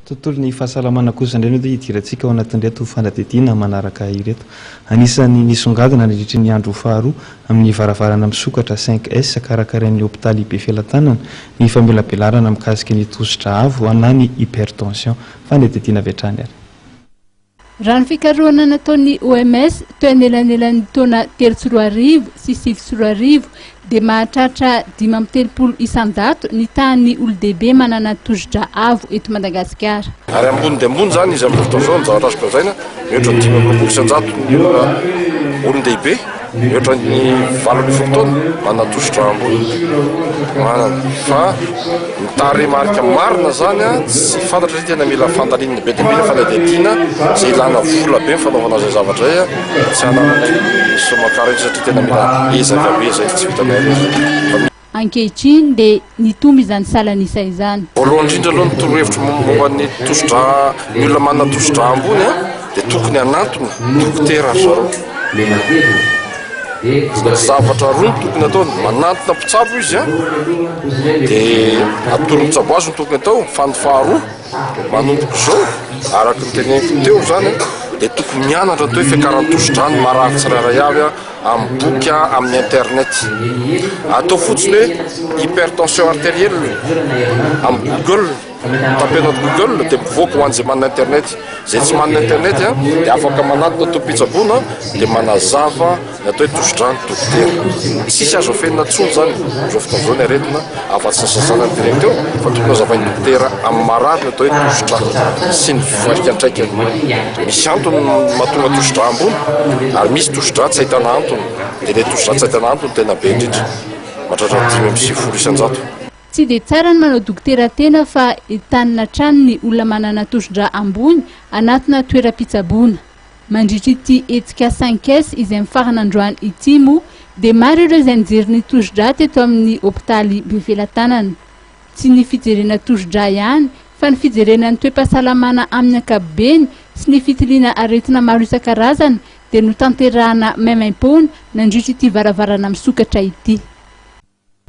Tontolon'ny fahasalamana kosa indray no hidirantsika ao anatin'ireto fanadihadiana manaraka ireto. Anisan'ny nisongadina nandritry ny andro faharoa amin'ny varavarana misokatra cinq S karakarain'ny hopitaly Befelatanana ny famelabelarana mikasika ny tosidra avo na ny hypertension. Fanadihadiana avy hatrany ary. Raha ny fikarohana nataon'ny OMS teo anelanelan'ny taona telo sy roa arivo sy sivy sy roa arivo dia mahatratra dimy amby telopolo isan-jato ny tahan'ny olon-dehibe manana tosidra avo eto Madagasikara. Ary ambony dia ambony izany izy amin'izao fotoana izao, ny zavatra azo lazaina, mihoatra ny dimy amby roapolo isan-jato ny olona olon-dehibe. Mihoatra ny valo ambin'ny folo taona manana tosi-drà ambony manana. Fa ny tarehimarika marina izany tsy fantatra satria tena mila fandalinana be dia be ny fanadihadiana izay ilàna vola be ny fanaovana izay zavatra izay. Tsy anananay ny somme carré satria tena mila ezaka be izay tsy vitanay aloha izay. Ankehitriny dia nitombo izany salan'isa izany. Voalohany indrindra aloha ny torohevitro momba ny tosidra, ny olona manana tosidra ambony dia tokony hanantona dokotera ry zareo. Zavatra roa no tokony ataony, manantona mpitsabo izy an, dia atoro mpitsabo azy no tokony atao, fa ny faharoa, manomboka izao, araka ny teneniko teo izany an, dia tokony mianatra ny atao hoe fiakaran'ny tosidra ny marary tsirairay avy an. amin'ny boky amin'ny internet. Atao fotsiny hoe hypertension arterielle amin'ny google, tapeno ato google dia mivoaka ho an'izay manana internet. Izay tsy manana internet dia afaka manatona tompon-pitsaboana dia manazava ny atao hoe tosi-drano dokotera. Tsisy azo afenina intsony izany amin'izao fotoana izao ny aretina. Afa-tsy-ny-sasana dimy teo, fa tokony hozavain'ny dokotera amin'ny marary ny atao hoe tosidra sy ny fiantraikany. Misy antony mahatonga tosidra ambony, ary misy tosidra tsy ahitana antony. Dia ilay tosidra tsy ahitana antony tena be indrindra, mahatratra dimy amby sivifolo isan-jato. Tsy dia tsara ny manao dokotera tena fa entanina hatrany ny olona manana tosidra ambony anatina toeram-pitsaboana. Mandritra ity hetsika cinq S izay mifarana androany ity moa dia maro ireo izay nijery ny tosi-drà teto amin'ny hopitaly Befelatanana. Tsy ny fijerena tosi-drà ihany fa ny fijerena ny toe-pahasalamana amin'ny ankapobeny sy ny fitiliana aretina maro isan-karazany dia notanterahina maimaim-poana nandritra ity varavarana misokatra ity.